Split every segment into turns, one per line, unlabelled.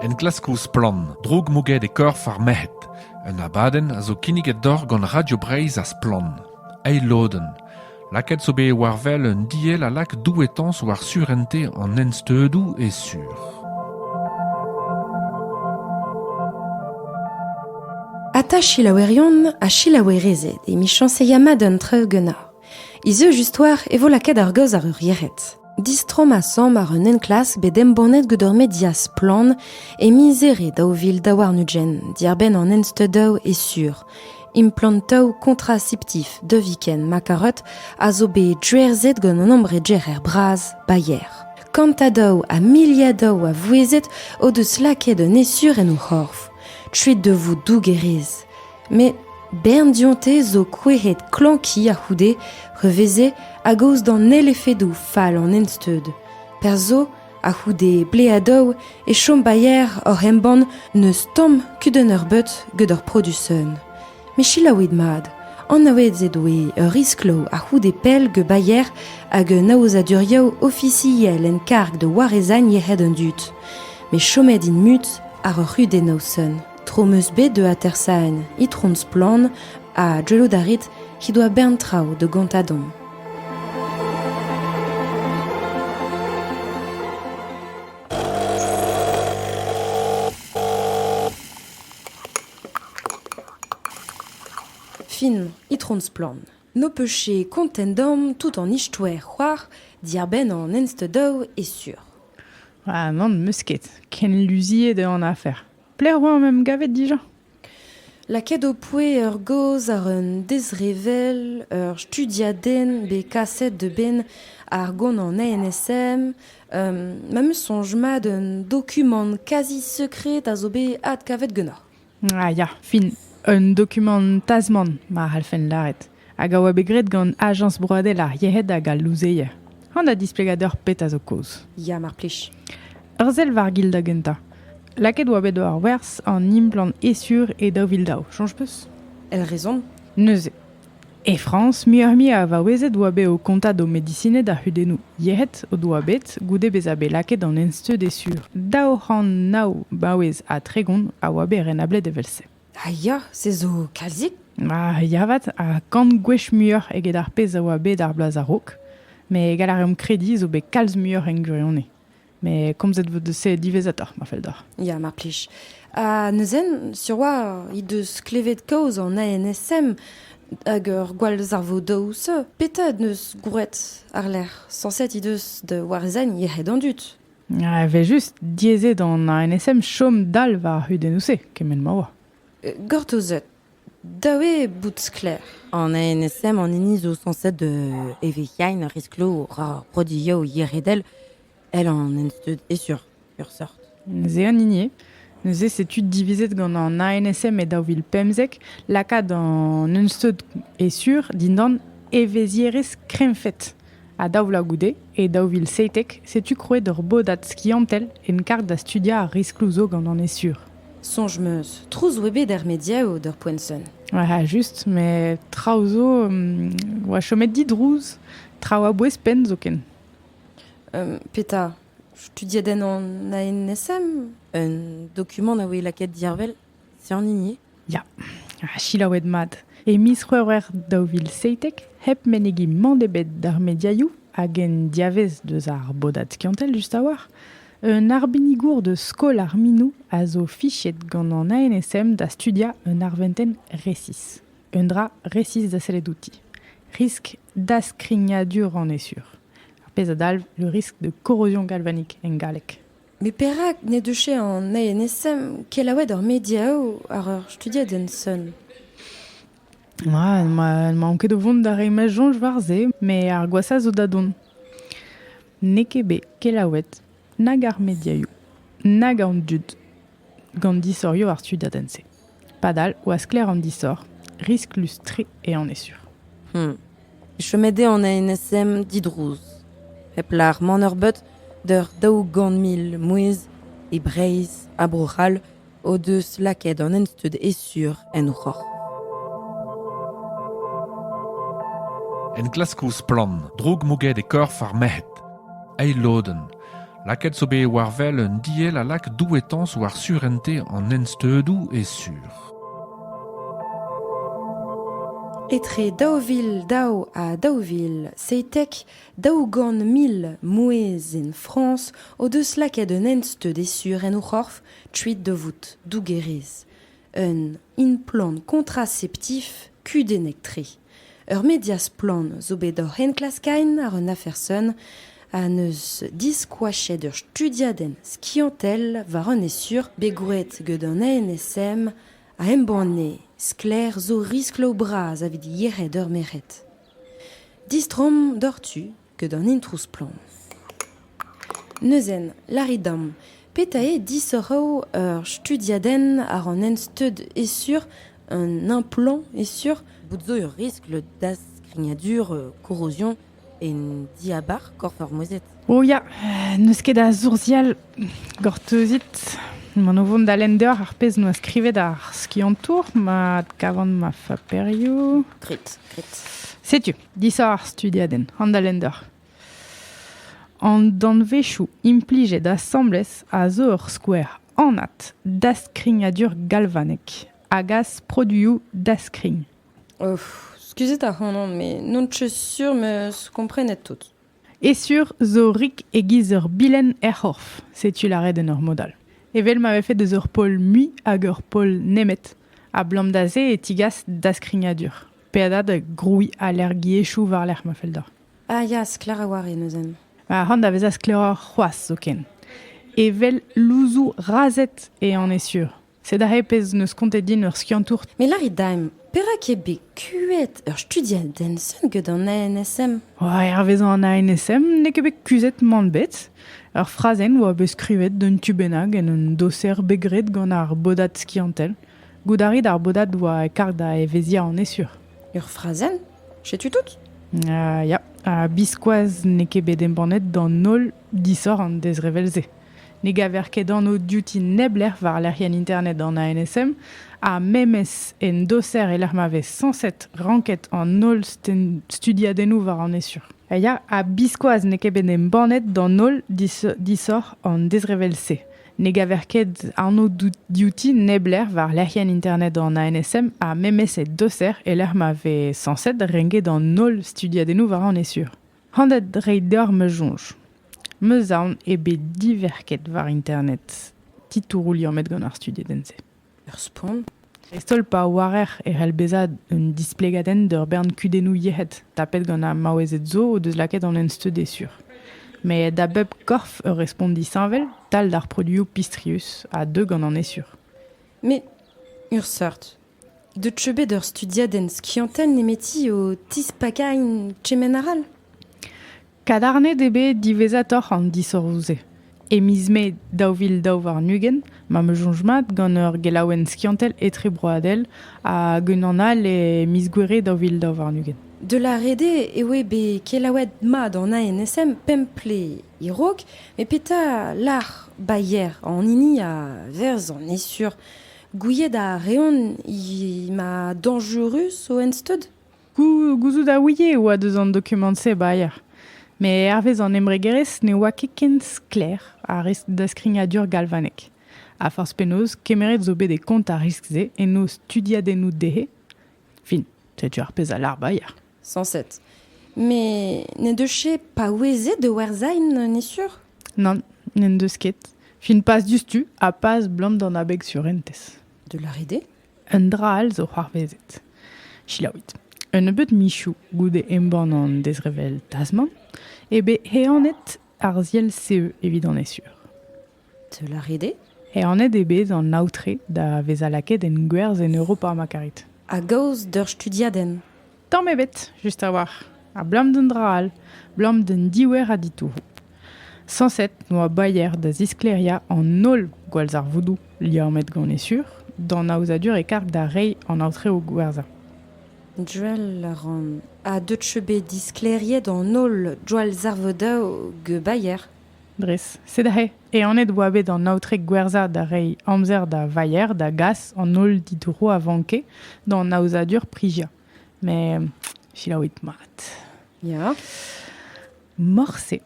Enklaskoù Splann! droug mouget e korf ar merc'hed. Un abadenn a zo kinniget deoc'h gant Radio Breizh ha Splann! Eil lodenn. Lakaet zo bet war wel un diell a lak douetañs war surente an ensteudoù e sur.
Ata selaouerion ha selaouerezed emichañs e ya mat an traoù ganeoc'h. Izujust oar e vo lakaet ar gaoz àr ur yec'hed. Distromm asambl àr un enklask bet embannet gant ur media splann e miz Here daou vil daou warn-ugent, diàr-benn an ensteudaoù e sur. Implantoù kontraseptif Deviken Makarot a zo bet drerzet gant un ambreger bras Bayer. Kantadoù ha miliadoù a vouezhet o deus lakaet un esur en o c'horf. Tuet de vous dougerez. Met bern dionte zo kouezhet klañki a-c'houde re veze a-gaoz d'an holl efedoù fall an ensteud. Perzh zo, a-c'houde bleadoù, e chom bailler oc'h embann n'eus tamm kudenn eurbeut gant ur produsenn. Met selaouit mat, anaouet ez doe ur riskloù a-c'houde pell gant bailler hag un aozadurioù ofisiel en karg da warezagn yec'hed an dud. Met chomet int mut àr ur c'hudenn noson. Tro 'm eus bet da atersaén Itron Splann ha gellout a rit he doa bern traoù da gontañ deomp. Fin, Itron Splann. N'ho peus ket kontent deomp tout an istoer c'hoar diarbenn an enstedaoù e sur. Ha
nann, 'm eus ket. Ken luziet eo an afer. Pelec'h oa am em gavet dija?
Lakaet ho poe ur gaoz àr un dezrevell, ur studiadenn bet kaset a-benn ar gonant NSM. Ma 'm eus soñj mat un dokumant kazi sekred a zo bet adkavet ganeoc'h. Ah ya,
fin. Un dokumant tasmant, ma c'hallfen lâret. hag a oa bet graet gant Ajañs broadel ar yec'hed hag al louzeier. An a displegadur pet a zo kaoz. Ya, mar plij.
Ur sell war
gil da gentañ. Lakaet oa bet war werz an implant esur e daou vil daou. Soñj peus? El rezon?
Neuze.
E Frañs, muioc'h-mui a vaouezed oa bet o kontañ d'o medisined ar c'hudennoù yec'hed o doa bet goude bezañ bet lakaet an ensteud esur. Daou c'hant nav baouez ha tregont a oa bet renablet evel-se. Ha ya, se
zo kalzik. Ah, ya 'vat,
ha kant gwech muioc'h eget ar pezh a oa bet ar bloaz a-raok. Met gall a reomp krediñ zo bet kalz muioc'h en gwirionez. Met komzet vo deus se diwezhatoc'h, ma fell deoc'h. Ya, mar plij. Ha
neuze, sur 'oa he deus klevet kaoz an ANSM hag ur gwallzarvodaoù-se. Petra en deus gwraet àr-lerc'h? Sañset he deus da warezañ yec'hed an dud. Evel-just,
diaezet an ANSM chom dal war ar c'hudennoù-se, kement ma oa. Gortozet.
Da eo bout sklaer, an ANSM
an hini zo sañset de evec'hiain risklo ar prodioù yeredel, el an ensteud e sur, sur sort. Neuze an hini
Neuze setu divizet gant an ANSM e daou vil pemzek lakaat an ensteud e sur dindan evezhierezh krennfed. Ha daou vloaz goude, e daou vil seitek, setu krouet ur bodad skiantel en karg da studiañ ar riskloù zo gant an esur. Soñj 'm eus
trouz 'oa bet er mediaoù d'ur poent sonn. Ah, just,
met traoù zo um, 'oa chomet didrouz, traoù a-bouez penn zoken. Um,
petra? Studiadenn an ANSM? Un
dokumant a voe lakaet diarvel? C'est en hini Ya,
selaouet mat. E miz C'hwevrer daou vil seitek, hep menegiñ mann ebet d'ar mediaioù hag en diavez deus ar bodad skiantel just a-walc'h, un arbenigour deus skol ar minoù a zo fichet gant an ANSM da studiañ un arventenn resis. Un dra resis da sellet outi. Risk daskrignadur an esur. Ar pezh a dalv le risque de corrosion galvanique en galleg. Met perak
n'he deus an INSM kelaouet ar mediaoù àr ur studiadenn sonn ?
Ah, ma maon ket o vont da reiñ ma soñj war se, met ar gwashañ zo da dont. N'eo ket bet kelaouet nag ar mediaioù nag an dud gant disorioù ar studiadenn-se. Padal oa sklaer an disoc'h, risklus-tre eo an esur. Hmm.
Chomet eo an ANSM didrouz. Hep lar maner-beut d'ur daou-gant mil mouezh e Breizh ha Bro-C'hall o deus lakaet an ensteud esur en o c'horf.
Enklask ouzh splann, droug mouget e korf ar merc'hed. Eil lodenn, Lakaet zo bet war wel un diell a lak douetañs war surentez an ensteudoù e sur.
Etre daou vil daou ha daou vil seitek daou-gant mil mouezh en Frañs o deus lakaet un ensteud e sur en o c'horf kuit da vout dougerez. Un implant kontraseptif kudennek-tre. Ur media splann zo bet oc'h enklaskaén àr un afer sonn ha neus diskoachet ur studiadenn skiantel war an esur bet gwraet get an NSM a embanne sklaer zo riskloù bras evit yec'hed ur merc'hed. Distroomp doc'htu ket an introù splann. Neuzen, lârit deomp, petra eo disoc'hoù ur studiadenn àr an ensteud e-sur un implant e-sur? Bout zo ur riskl
da skrignadur euh, korrozion en diabarzh korf ar mouezhed. O ya,
n'eus ket a sourzial gortozit. Man o vont da lender ar pezh noa skrivet ar skiantour ma adkavan ma faperioù. Grit, grit.
Setu.
Disav ar studiadenn, Handalender. An danvezioù implijet asambles a zo ur skouer anat daskrignadur galvanek a gas produioù daskrign. Of,
skuzit ac'hanon, me n'on ket sur meus komprenet tout. E sur
zo rik e-giz ur bilenn er c'horf, setu lâret en ur mod all. Evel ma vefe deus ur pol mui hag ur pol nemet, ablam da se e tigas daskrignadur. Peadad grouiñ alergiezhioù war-lerc'h ma fell deoc'h. Ah ya, sklaer
a-walc'h eo neuze. Ha c'hoant da vezañ
sklaeroc'h c'hoazh zoken. Evel louzoù razhed eo on e sur. Sed aze pezh 'neus kontet din ur skiantour. Me lârit da'm,
perak eo bet kuit ur studiad Denson get an ANSM? Oh, hervezañ
an ANSM n'eo ket bet kuzhet mann bet. Ur frazenn oa bet skrivet d'un tu bennak en un doser bet graet gant ar bodad skiantel. Goût a rit ar bodad oa karg da evezhiañ an esur. Ur frazenn
Setu tout uh, Ya,
ha biskoazh n'eo ket bet embannet d'an holl disoc'h an dezrevell-se. Ne gaver ket anv diouti neblec'h war lec'hienn internet an ANSM ha memes en doser e-lec'h ma vez sañset ranket an holl studiadennoù war an esur. Ya, ha biskoazh n'eo ket bet embannet d'an holl disoc'h an dezrevell-se. Ne gaver ket anv diouti neblec'h war lec'hienn internet an ANSM ha memes e doser e-lec'h ma vez sañset renket an holl studiadennoù war an esur. Handet reiñ deoc'h ma soñj. Meus aon eo bet diverket war internet titouroù liammet gant ar studiadenn-se. Ur spont,
dreist-holl pa
oarer e c'hell bezañ un displegadenn d'ur bern kudennoù yec'hed tapet gant ar maouezed zo o deus lakaet an ensteud e sur. Met da bep korf ur respont disheñvel, tal d'ar produioù pistrius, a deu gant an esur. Met
ur seurt. Deut zo bet ur studiadenn skiantel nemeti o tispakañ kement arall ?
Kadarnet eo bet diwezhatoc'h an disoc'hoù-se. E miz Mae daou vil daou warn-ugent m'am eus soñj mat gant ur gelaouenn skiantel etrebroadel hag unan all e miz Gouere daou vil daou warn-ugent. De La Rede
eo eo bet kelaouet mat an ANSM pemp ple e-raok, met petra lâr Bayer an hini a verz an esur? Gouiet a reont he ma dañjurus o ensteud? Gouzout a
ouie e oa deus an dokumant-se baeañ, met hervez an embregerezh ne oa ket ken sklaer ar riskl daskignadur galvanek. Ha forzh penaos, kemeret zo bet e kont ar riskl-se en o studiadennoù dezhe. Fin, setu ar pezh a lâr baeañ. Sañset.
Met n'en deus ket paouezet da werzhañ, n'en est sur? Nann, n'en
deus ket. Fin pas diouzhtu ha pas 'blam d'an abeg surentez. De la rider.
Un dra all
zo c'hoarvezet. Selaouit. Un nebeud michoù goude embann an dezrevell Tasman eo bet heanet ar ziell-CE evit an ESUR. Teul a
rit eo? Heanet eo bet
an aotre da vezañ lakaet en gwerzh en Europa ma karit. A-gaoz d'ur
studiadenn. Tamm ebet,
just a-walc'h. Abalamour d'an dra all, abalamour d'an diouer a ditouroù. Sañset oa Bayer da zisklêriañ an holl gwallzarvoudoù liammet gant e sur d'an aozadur e karg da reiñ an aotreoù gwerzhañ. Joel
a ran. Ha deut cheu bet disklêriet an holl gwallzarvoudoù Bayer? Dres. Sed
aze Ehanet oa bet an aotre gwerzhañ da reiñ amzer da Vayer da gas an holl ditouroù a vanke d'an aozadur priziañ. Met selaouit mat.
Ya.
Morse.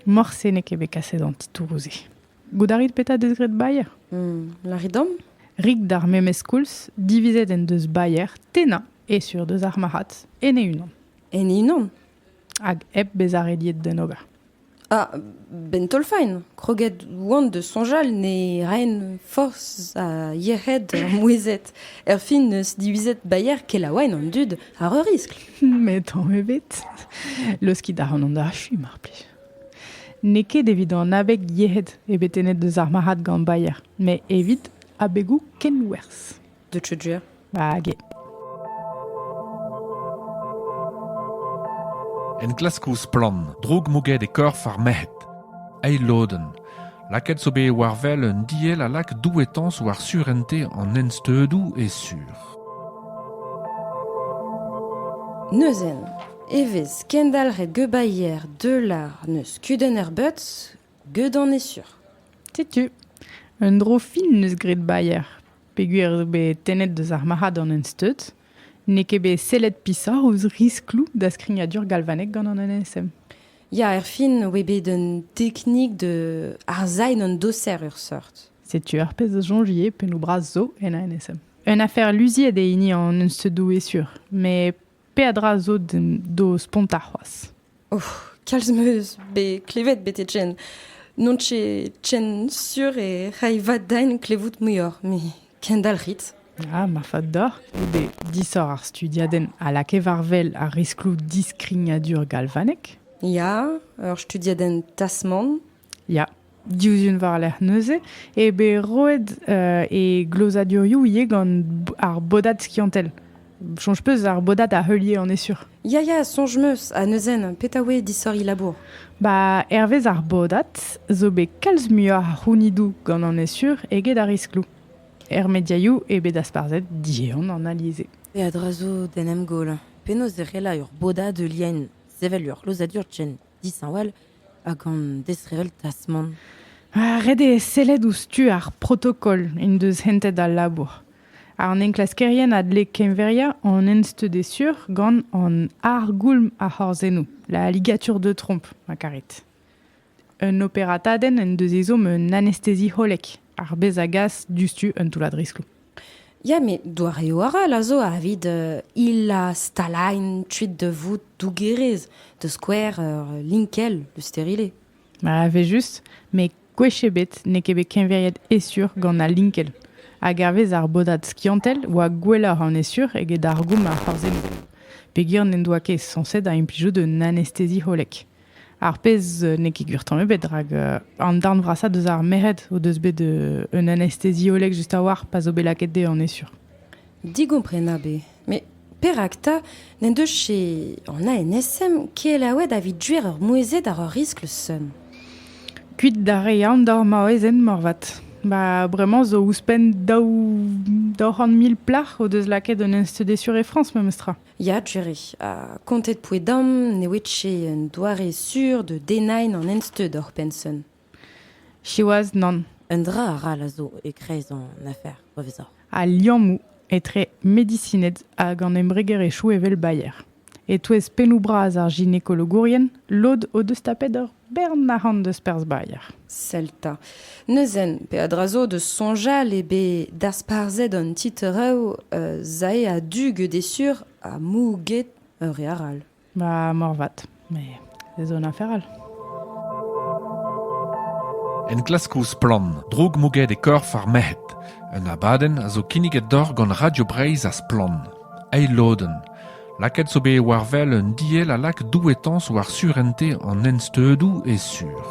Morse n'eo ket bet kaset an titouroù-se. Goût a rit petra deus graet Bayer? Hmm, lârit dom?
Rik d'ar
memes koulz, divizet en deus Bayer tennañ e sur deus ar marc'had en e unan. En e unan?
Hag hep
bezañ rediet d'en ober. Ah,
'benn taol-faen, kroget oan da soñjal ne raen forzh ha yec'hed ar mouezhed, erfin 'neus divizet baeañ kelaouenn an dud àr ur riskl. Met tamm
ebet. Leuskit a ran an achu, mar plij. N'eo ket evit an abeg yec'hed eo bet tennet deus ar marc'had gant baeañ, met evit abegoù kenwerzh. de Tudjer.
Hag
enklask ouzh splann, droug mouget e korf ar merc'hed. Eil lodenn. Lakaet zo bet war wel un diell a lak douetañs war surente an ensteudoù e sur.
Neuzen, evez kendalc'het gebaier deular neus kudenn er beutz, gedan e sur. Setu,
un dro fin neus graet baier. peogwir eo bet tennet deus ar marc'had an ensteud, n'eo ket bet sellet pishoc'h ouzh riskloù da skrignadur galvanek gant an NSM. Ya, erfin,
oe bet un teknik de arzain an doser ur seurt. Setu ar pezh a
soñjie pennoù bras zo en a NSM. Un afer luziet eo hini an ensteudoù e sur, met peadra zo d'o spontañ c'hoazh. Oh, kalz
meus bet klevet betek jen. N'on ket ken sur e ray va daen klevout muioc'h, me kendalc'hit. Ah, marfat
deoc'h goude disoc'h ar studiadenn a lakae war-wel ar riskloù diskrignadur galvanek. Ya,
ur studiadenn Tasman Ya,
diouzh un war-lerc'h neuze eo bet roet e glozadurioù ivez gant ar bodad skiantel. Soñj peus ar bodad a heulier, on est sûr. Ya, ya, soñj meus.
Ha neuzen, petra oe disoriñ labour? Ba, hervez
ar bodad zo bet kalz muioc'h a c'hounidoù gant an est sûr eget ar riskloù. Er mediaioù eo bet dasparzhet diehan an alize. E a-dra zo
d'en em goll. Penaos e c'heller ur bodad heuliañ sevel ur glozadur ken dishañval hag an disheñvel tasmant. Ah, ret eo
sellet ouzh tu ar protokol en deus hentet al labour. An enklaskerien a dle keñveriañ an ensteud sur gant an argoulm ar c'horzennoù, la ligatur de trompe, ma karit. Un operatadenn en deus ezhomm un anestezi hollek, ar bez a gas diouzhtu un toullad riskloù. Ya met
doareoù arall a zo evit hilañ stalailh kuit da vout dougerez, da skouer ur linkell, le stérilé. Ma evel-just,
met gwech ebet n'eo ket bet keñveriet Essure gant al linkell. Hag hervez ar bodad skiantel oa gwelloc'h an Essure eget ar goum a c'hoarzheno. Peogwir n'en doa ket sañset da implijout un anestezi hollek. Ar pezh n'eo ket gwir tamm ebet, rak an darn vrasañ deus ar merc'hed o deus bet un anestesiolleg just a-walc'h pa zo bet lakaet dezhe, on est sûr. Digomprenabl
eo. Met perak 'ta n'en deus che an ANSM kelaouet evit duer ur mouezhet àr ur riskl seum? Kuit
da reiñ aon d'hor maouezed moarvat. Ba bremañ zo ouzhpenn daou c'hant mil plac'h o deus lakaet un anestesiolleg e Frañs memes tra. Ya, Jerry. Ha
kontet pouez-damm ne ouiet ket un doare sur de denain an ensteud oc'h penson. Siwazh,
nann. Un dra arall a
zo e-kreiz an afer, revezoc'h. Al liammoù
etre medisined hag an embregerezhioù evel Bayer. E-touez pennoù bras ar ginekologourien, lod o deus tapet ur Bern arc'hant deus perzh Bayer. Sell 'ta.
Neuzen, peadra zo deus soñjal eo bet dasparzhet an titrev euh, zae a-du gede sur ha mou get ur re arall. Ba morvat,
mais ez on afer all.
Enklask ouzh Splann, droug mouget e korf ar merc'hed. Un abadenn a zo kinniget doc'h gant Radio Breizh ha Splann. Eil lodenn. Lakaet zo bet war wel un diell a lak douetañs war surentez an ensteudoù e sur.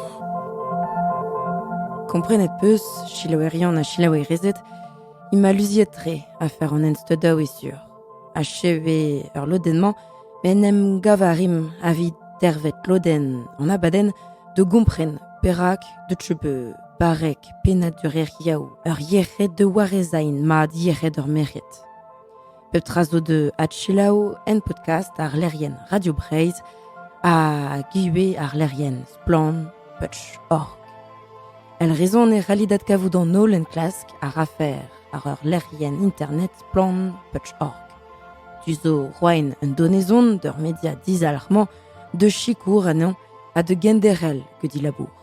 Komprenet 'peus, selaouerion ha selaouerezed, int ma luziet-tre afer an ensteudañ e sur. Achev eo ur lodenn-mañ, met en em gav a rimp evit dervet lodenn an abadenn da gompren perak deuet je bet barrek pennad ur lec'hiaou ur yec'hed da warezañ mat yec'hed ur merc'hed. Pep tra zo da adselaou en podcast ar lec'hienn Radio Breizh ha ivez ar lec'hienn Splann Putsch Org. El raison e c'hallit adkavout an holl enklask ar afer ar ur lec'hienn internet Splann Putsch Org. Tu zo roaen un donezon d'ur media dizalc'hmañ, de sikour anezhañ ha de genderel que dit labour.